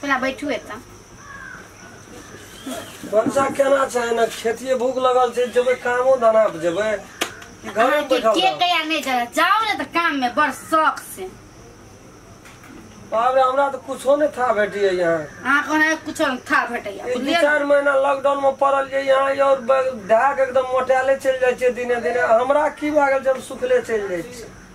पहिले बैठू एतऽ बच्चा केना चाहे ना खेतिए भूख लगल छै जेबै कामो धना पर जेबै कि घर अहाँ में के बैठल के रहब? कहिया नहीं जाए जाओ ना तो काम में बड़ शौक से बाप रे हमरा तऽ कुछो नहि था भेटियै यहाँ अहाँ को ना कुछ था भेटैया ई दू बुझलियै चारि महीना लॉकडाउन में पड़ल ये यहाँ ये और ढाक एकदम मोटाले चलि जाइ छियै दिने दिने हमरा की भए गेल जे हम सुखले चलि जाइ छियै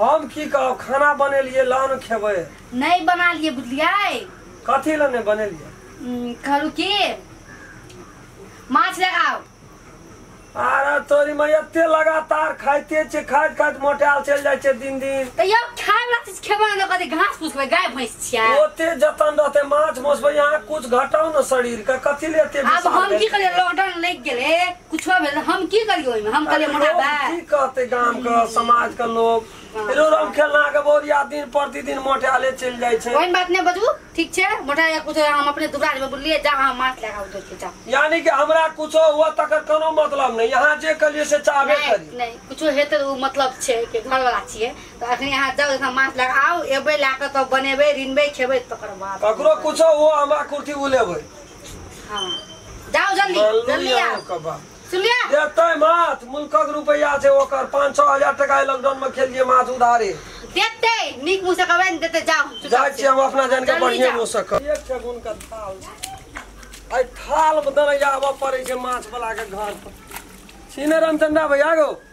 हम की कहब खाना बनेलिए लान खेबै नहीं बना लिए बुझलियै कथी लए नहि बनेलिए हम्म, कहलू की माछ ले आओ आरे तोरी में एते लगातार खाइते छै खाइत खाइत मोटाल चलि जाइ छै दिन दिन तो यो खाए वाला चीज खेबे ना कथी घास फूस खेबै गाय भैंस छियै ओते जतन रहते माछ मौसबै यहाँ कुछ घटाउ ने शरीर के कथी ले एते अब विचार हम की भेल? करियै लॉकडाउन लग गेलै कुछ हो भेल हम की करियो ओइमे हम कहलिए अरे मोटा लोग बा की कहते गांव के समाज के लोग रो रम खेलना के बोरिया दिन प्रतिदिन मोटाले चल जाय छै ओहन बात नहि बजू ठीक छै मोटा या कुछ हम अपने दुबराज में बोललिए जा हम माथ लगा उतर के जा यानी कि हमरा कुछो हुआ तकर कोनो मतलब नहीं यहाँ जे करिए से चाहबे नहीं करी नहीं कुछो हेतै तऽ ओ मतलब छै कि घरवला छियै तऽ अखनी अहाँ जाउ एखन माथ लगा आउ एबै लए कऽ तब बनेबै रिनबै खेबै तकर बाद ककरो कुछो हुआ हमरा कुर्ती उलेबै हाँ जाओ जल्दी मल्लू जल्दी यहाँ आओ के बा। सुन लिया देतै माथ मुल्कक रुपैआ छै ओकर पाँच छओ हजार टाका एहि लॉकडाउन में खेलिए माथ उधारे देते नीक मुँह से कहबे ने देते जाओ चुपचाप जाइ से। छियै हम अपना जान के जल्दी बढ़िए जाओ। मुँह से कर एक छै गुण के थाल एहि थाल में दरैया आबऽ पड़ै छै माछ वाला के घर पर सीने रामचंद्रा भैया गो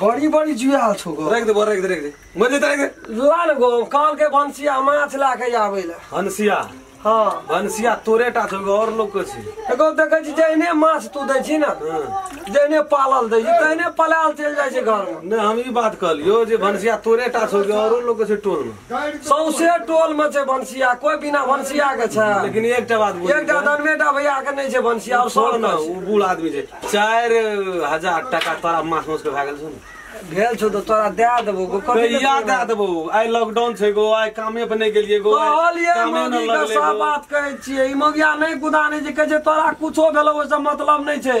बड़ी बड़ी जुआल छौ गो रख दे बोल रख दे रख दे मर जेता रख दे लाल गो काल के भनसिया माछ ला के आबै लए हंसिया हँ भनसिया तोरे टा छौ और लोग के छै एगो देखै छी जहने माछ तू दै छी ने हँ। जहने पालल दै छी तहने पलायल चलि जाइ छै घरमे नहि हम ई बात कहलियो जे भनसिया तोरे टा छौ औरो लोग के छै टोल में सौंसे टोल में छै भनसिया कोई बिना भनसिया के छै लेकिन एकटा बात बुझू एकटा दनवेटा भैया के नहीं छै भनसिया और सब छोड़ ना में ओ बूढ़ आदमी छै चारि हजार टाका तोरा मास मास के भए गेल छौ ने छै। भेल छौ तो तोरा दे देबो गो कथी ले कहिया देबो? दए देबो आइ लॉकडाउन छै गो आइ कामे पर नहि गेलियै गो आइ कहलियै कामे नहि मौगी के लगलै सब गो। बात कहै छियै ई मौगिया नहि गुदा नहि छै कहै छै तोरा कुछो भेलो ओहिसँ मतलब नहि छै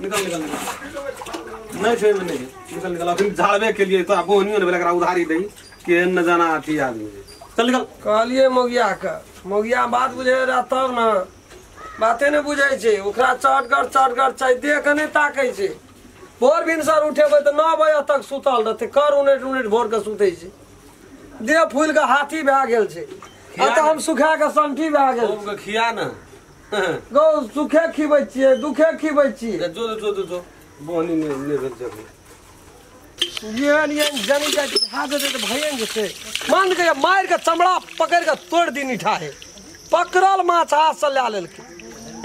निकल निकल निकल नहीं छे में नहीं निकल निकल अखन झाड़बे के लिए तो आप बोहनियो ने बेलकरा उधारी दई के न जाना आती आदमी जे। चल निकल कहलिए मोगिया के मोगिया बात बुझे रहा तब ने बाते ने बुझे छै ओकरा चटगर चटगर छै देख के नहि ताकै छै भोर भिनसर उठेबै तऽ नओ बजे तक सुतल रहतै कर उनटि उनटि भोर के सुतै छै देह फूलि के हाथी भए गेल छै आ तऽ हम सुखा के संठी भए गेल खूब के खिया न गौ सुखे खिबै छियै दुखे खिबै छियै जो जो जो जो जो बोनी ने ने भेल जब येन येन जनी का हाथ दे तो भैया जैसे मान के जब मार के चमड़ा पकड़ के तोड़ दी निठा है पकड़ल माछ हाथ से ला लेल के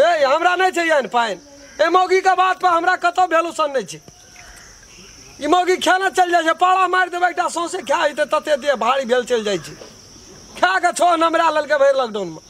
ए हमरा नहीं छै यान पाइन ए मौगी के बात पर हमरा कतो भेलू सन नहीं छै ई मौगी खाना चल जाइ छै पाड़ा मारि देबै एकटा सौंसे खा हेतै तते देह भारी भेल चल जाइ छै खा के छो नमरा लेलकै भरि लॉकडाउन में